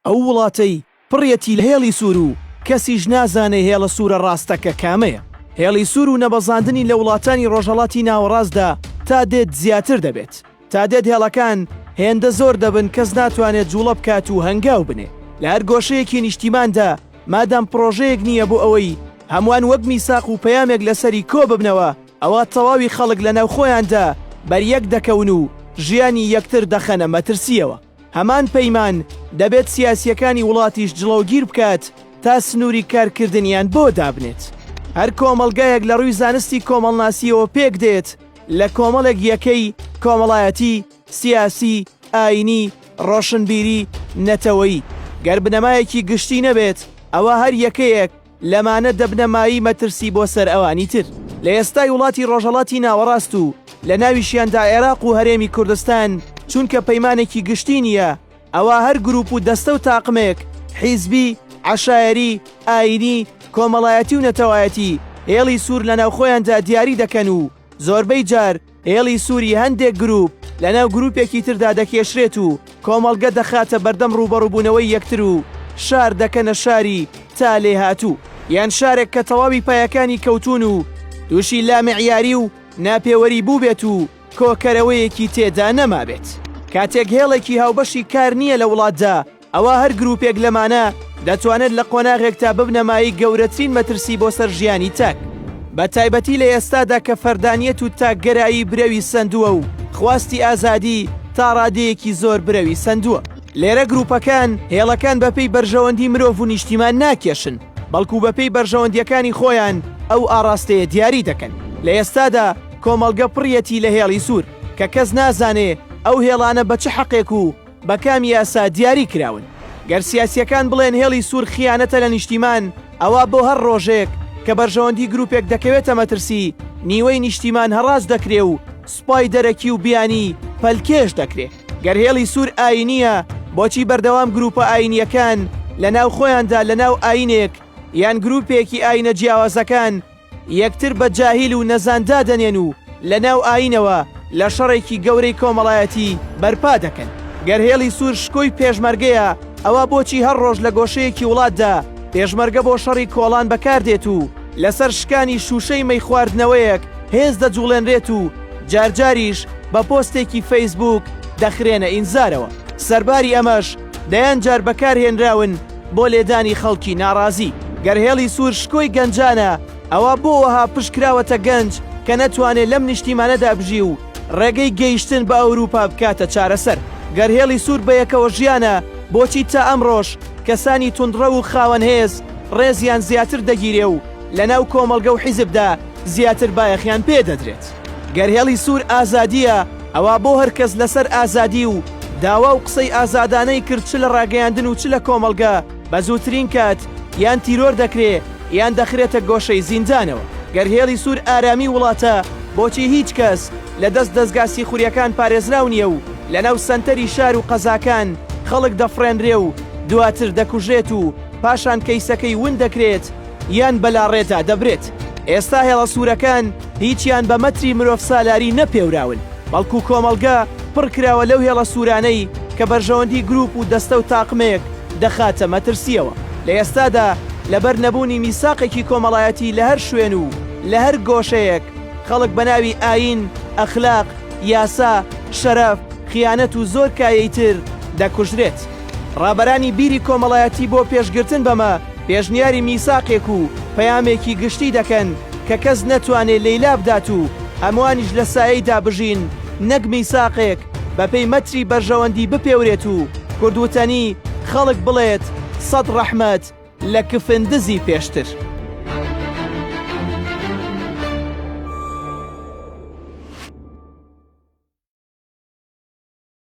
ئەو وڵاتەی پڕیەتی لە هێڵی سوور و کەسیش نازانێ هێڵە سوورە ڕاستەکە کامەیە. هێڵی سوور و نەبەزاندنی لە وڵاتانی ڕۆژهەڵاتی ناوەڕاستدا تا دێت زیاتر دەبێت. تا دێت هێڵەکان هێندە زۆر دەبن کەس ناتوانێ جووڵە بکات و هەنگاو بنێ لە هەر گۆشەیەکی نیشتیماندا مادام پڕۆژەیەک نییە بۆ ئەوەی هەمووان وەک میساق و پەیامێک لەسەری کۆ ببنەوە ئەوا تەواوی خەڵک لەناو خۆیاندا بەریەک دەکەون و ژیانی یەکتر دەخەنە مەترسییەوە. هەمان پەیمان دەبێت سیاسیەکانی وڵاتیش جڵەوگیر بکات تا سنووری کارکردنیان بۆ دابنێت. هەر کۆمەلگایەک لە ڕووی زانستی کۆمەڵناسیەوە پێک دێت لە کۆمەڵێک یەکەی کۆمەڵایەتی، سیاسی، ئاینی، ڕۆشنبیری، نەتەوەیی. گەر بنەمایەکی گشتی نەبێت ئەوا هەر یەکەیەک، لەمانە دەبنە مایەی مەترسی بۆ سەر ئەوانی تر لە ئێستای وڵاتی ڕۆژهەڵاتی ناوەڕاست و لە ناویشیاندا عێراق و هەرێمی کوردستان چونکە پەیمانێکی گشتی نییە ئەوا هەر گروپ و دەستە و تاقمێک حیزبی عشایەری ئاینی کۆمەڵایەتی و نەتەوایەتی هێڵی سوور لە ناوخۆیاندا دیاری دەکەن و زۆربەی جار هێڵی سووری هەندێک گرووپ لەناو گرووپێکی تردا دەکێشرێت و کۆمەڵگە دەخاتە بەردەم ڕووبەڕووبوونەوەی یەکتر و شار دەکەنە شاری تا لێهاتوو یان شارێک کە تەواوی پایەکانی کەوتون و تووشی لامعیاری و ناپێوەری بووبێت و کۆکەرەوەیەکی تێدا نەمابێت. کاتێک هێڵێکی هاوبەشی کار نییە لە وڵاتدا ئەوا هەر گروپێک لەمانە دەتوانێت لە قۆناغێکتا ببنە مایەی گەورەترین مەترسی بۆ سەر ژیانی تاک. بە تایبەتی لە ئێستادا کە فەردانیەت و تاکگەرایی برەوی سەندووە و خواستی ئازادی تا ڕادەیەکی زۆر برەوی سەندووە. لێرە گروپەکان هێڵەکان بەپێی بەرژەوەندی مرۆڤ و نیشتیمان ناکێشن، بەڵکو بەپێی بەرژەوەندیەکانی خۆیان ئەو ئاڕاستەیە دیاری دەکەن. لە ئێستادا کۆمەڵگە پڕیەتی لە هێڵی سوور کە کەس نازانێ ئەو هێڵانە بە چ حەقێک و بە کام یاسا دیاری کراون؟ گەر سیاسیەکان بڵێن هێڵی سوور خیانەتە لە نیشتیمان ئەوا بۆ هەر ڕۆژێک کە بەرژەوەندی گروپێک دەکەوێتە مەترسی نیوەی نیشتیمان هەڕاج دەکرێ و سوپای دەرەکی و بیانی پەلکێش دەکرێ گەر هێڵی سوور ئاینیە بۆچی بەردەوام گروپە ئاینیەکان لە ناو خۆیاندا لە ناو ئاینێک یان گروپێکی ئاینە جیاوازەکان یەکتر بە جاهیل و نەزان دادەنێن و لەناو ئایینەوە لە شەڕێکی گەورەی کۆمەڵایەتی بەرپا دەکەن. گەر هێڵی سوور شکۆی پێشمەرگەیە، ئەوا بۆچی هەر ڕۆژ لە گۆشەیەکی وڵاتدا پێشمەرگە بۆ شەڕی کۆڵان بەکاردێت و لەسەر شکانی شووشەی مەی خواردنەوەیەک هێز دەجوڵێنرێت و جارجاریش بە پۆستێکی فەیسبووک دەخرێنە ئینزارەوە؟ سەرباری ئەمەش دەیان جار بەکارهێنراون بۆ لێدانی خەڵکی ناڕازی. گەر هێڵی سوور شکۆی گەنجانە، ئەوا بۆ وەها پشت کراوەتە گەنج کە نەتوانێت لەم نیشتیمانەدا بژی و ڕێگەی گەیشتن بە ئەوروپا بکاتە چارەسەر؟ گەر هێڵی سوور بەیەکەوەژیانە، بۆچی تا ئەمڕۆش کەسانی توندڕەو و خاوەن هێز ڕێزیان زیاتر دەگیرێ و لەناو کۆمەڵگە و حیزبدا زیاتر بایەخیان پێ دەدرێت؟ گەر هێڵی سوور ئازادییە، ئەوا بۆ هەر کەس لەسەر ئازادی و داوا و قسەی ئازادانەی کرد چ لە ڕاگەیاندن و چ لە کۆمەڵگە بە زووترین کات یان تیرۆر دەکرێ یان دەخرێتە گۆشەی زیندانەوە. گەر هێڵی سوور ئارامی وڵاتە، بۆچی هیچ کەس لە دەست دەزگا سیخوریەکان پارێزراو نیە و لە ناو سەنتەری شار و قەزاکان خەڵک دەفڕێنرێ و دواتر دەکوژرێت و پاشان کەیسەکەی ون دەکرێت، یان بەلاڕێدا دەبرێت. ئێستا هێڵە سوورەکان هیچیان بە مەتری مرۆڤسالاری نەپێوراون، بەڵکو کۆمەڵگە پڕکراوە لەو هێڵە سوورانەی کە بەرژەوەندی گروپ و دەستە و تاقمێک دەخاتە مەترسییەوە. لە ئێستادا لەبەر نەبوونی میساقێکی کۆمەڵایەتی لە هەر شوێن و لە هەر گۆشەیەک، خەڵک بە ناوی ئایین، ئەخلاق، یاسا، شەرەف، خیانەت و زۆر کایەی تر دەکوژرێت. ڕابەرانی بیری کۆمەڵایەتی بۆ پێشگرتن بەمە پێشنیاری میساقێک و پەیامێکی گشتی دەکەن کە کەس نەتوانێ لێی لابدات و هەموانیش لە سایەیدا بژین نەک میساقێک بەپێی مەتری بەرژەوەندی بپێورێت و کورد وتەنی خەڵک بڵێت سەد ڕەحمەت لە کفن دزی پێشتر.